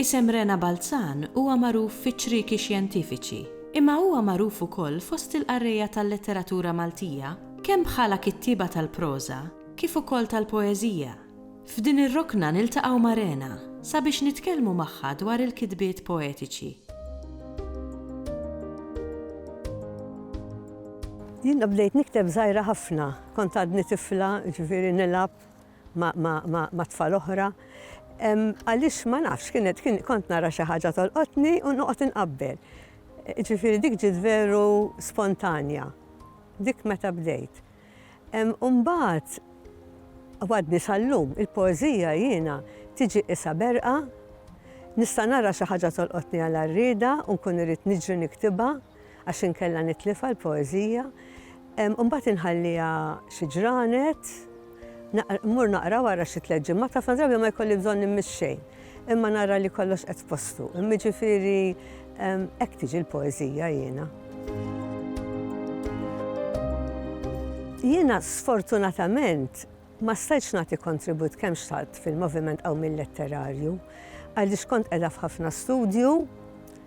Isem Rena Balzan huwa magħruf fiċ-ċrieki xjentifiċi, imma huwa magħruf ukoll fost il-qarrejja tal-letteratura Maltija kemm bħala kittieba tal-proża kif ukoll tal-poeżija. F'din ir-rokna niltaqgħu ma' Rena sabiex nitkellmu magħha dwar il-kitbiet poetiċi. Jiena bdejt nikteb żgħira ħafna, kont għadni tifla, jiġifieri nilgħab ma' tfal oħra. Għaliex ma nafx, kienet kont nara xi ħaġa tolqotni u noqgħod inqabbel. Jiġifieri dik ġiet veru spontanja. Dik meta bdejt. Imbagħad għadni sal-lum, il-poeżija jiena tiġi qisha berqa, nista' nara xi ħaġa tolqotni għal għarrieda u nkun irrid niġri niktibha għax inkella nitlifha l-poeżija. Imbagħad inħalliha xi ġranet, mmur naqra wara xi tliet ġimgħat, ħafna drabi ma jkolli bżonn immiss xejn. Imma nara li kollox qed f'postu. Imma ġifieri hekk tiġi l-poeżija jiena. Jiena sfortunatament ma stajtx nagħti kontribut kemm xtaqt fil-moviment qawmi mill letterarju għaliex kont qiegħda f'ħafna studju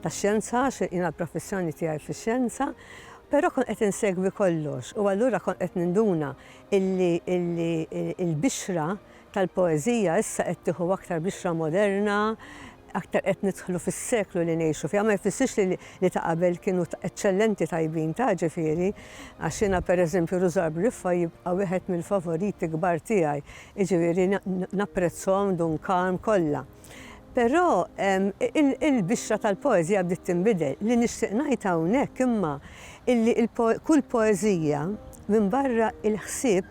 ta' xjenza għax jiena l-professjoni tiegħi fix-xjenza, però kont qed insegwi kollox u allura kont qed ninduna illi il-bixra tal-poeżija issa qed tieħu aktar bixra moderna, aktar qed nidħlu fis-seklu li ngħixu fiha, ma jfissirx li li ta' qabel kienu eċċellenti tajbin ta' ġifieri, għax jiena pereżempju Rużar Briffa jibqa' wieħed mill-favoriti kbar tiegħi, jiġifieri napprezzhom Dunkarm kollha. Però il-bixra tal-poeżija bdiet tinbidel. Li nixtieq ngħid hawnhekk imma illi kull poeżija minbarra l-ħsieb,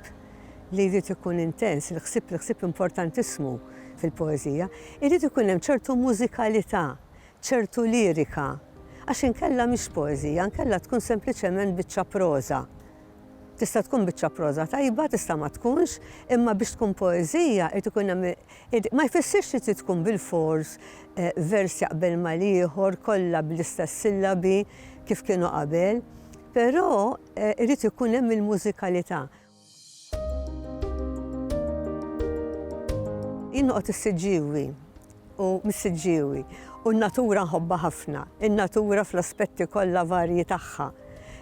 li jrid ikun intens, il-ħsieb l-ħsieb importantissimu fil-poeżija, irid ikun hemm ċertu mużikalità, ċertu lirika, għax inkella mhix poeżija, inkella tkun sempliċement biċċa proża. Tista' tkun biċċa proża tajba, tista' ma tkunx, imma biex tkun poeżija irid ikun hemm ma jfissirx li trid tkun bilfors eh, vers jaqbel mal-ieħor kollha bl-istess sillabi kif kienu qabel, però eh, irid ikun hemm il-mużikalità. Jien noqgħod is-Siġġiewi u mis-Siġġiewi u n-natura nħobbha ħafna. In-natura fl-aspetti kollha varji tagħha,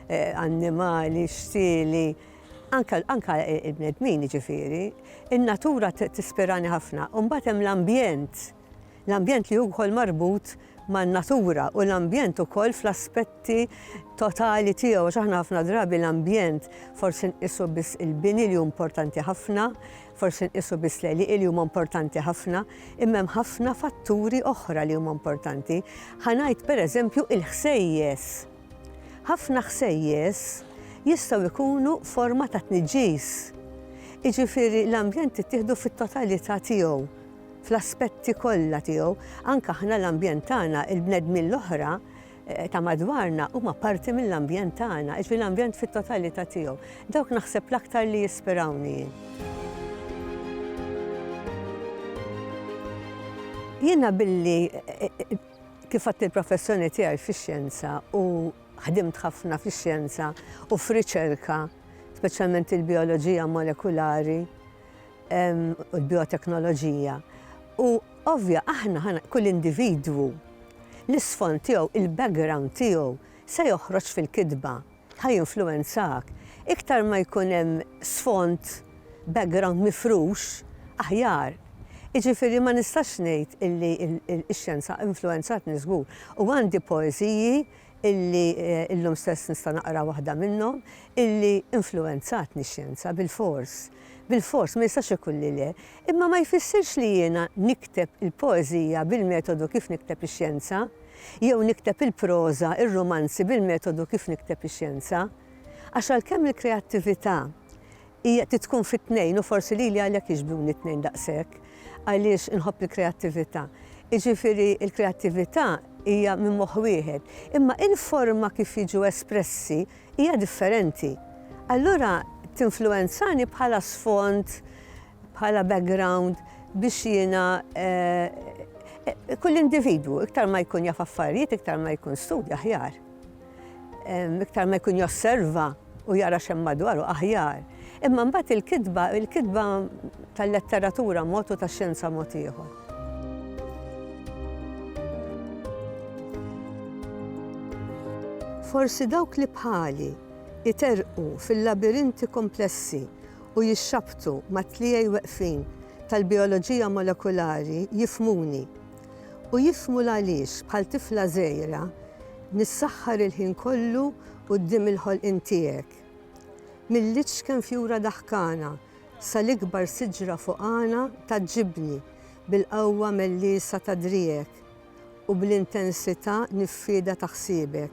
eh, annimali, xtieli, anka il-bnedmin jiġifieri. In-natura tispirani ħafna u mbagħad hemm l-ambjent L-ambjent li hu wkoll marbut man-natura u l-ambjent ukoll fl-aspetti totali tiegħu, għax aħna ħafna drabi l-ambjent forsi nqisu biss il-bini li hu importanti ħafna, forsi nqisu biss l-għelieqi li huma importanti ħafna, imma hemm ħafna fatturi oħra li huma importanti. Ħa ngħid pereżempju il-ħsejjes. Ħafna ħsejjes jistgħu jkunu forma ta' tniġġis. Iġifieri l-ambjent tittieħdu fit-totalità tiegħu fl-aspetti kollha tiegħu, anke aħna l-ambjent tagħna, il-bnedmin l-oħra ta' madwarna huma parti mill-ambjent tagħna, jiġifieri l-ambjent fit-totalità tiegħu. Dawk naħseb l-aktar li jispirawni jien. Jiena billi kif għadt il-professjoni tiegħi fix-xjenza u ħdimt ħafna fix-xjenza u f'riċerka, speċjalment il-bioloġija molekulari, u l-bioteknoloġija. U ovvja aħna ħana kull individwu l-isfond tiegħu, il-background tiegħu se joħroġ fil-kitba, ħaj influenzak. Iktar ma jkun hemm sfond background mifrux, aħjar. Iġifieri ma nistax ngħid illi x-xjenza influenzatni żgur. U għandi poeżiji illi illum stess nista' naqra waħda minnhom, illi influwenzatni x-xjenza bilfors. Bilfors, ma jistax ikun li le. Imma ma jfissirx li jiena nikteb il-poeżija bil-metodu kif nikteb ix-xjenza, jew nikteb il-proża, ir-rumanzi bil-metodu kif nikteb ix-xjenza. Għax għalkemm il-kreattività Hija trid tkun fit-tnejn u forsi lili għalhekk jixbhuni t-tnejn daqshekk, għaliex inħobb il-kreattività. Jiġifieri l-kreattività hija minn moħħ wieħed, imma il-forma kif jiġu espressi hija differenti. Allura tinfluwenzani bħala sfond, bħala background biex jiena kull individwu iktar ma jkun jaf affarijiet iktar ma jkun studja aħjar. Iktar ma jkun josserva u jara x'hemm madwaru aħjar. Imma mbagħad il-kitba, il-kitba tal-letteratura mod u tax-xjenza mod ieħor. Forsi dawk li bħali iterqu fil-labirinti komplessi u jixxabbtu mat-tliejaj weqfin tal-bijoloġija molekulari jifhmuni. u jifhmu l-għaliex bħal tifla żgħira nissaħħar il-ħin kollu quddiem il-ħolqien tiegħek. Mill-iċken fjura daħkana sal-ikbar siġra fuqana tgħaġġibni bil-qawwa melliesa ta' driegħek u bl-intensità niffieda ta' ħsiebek.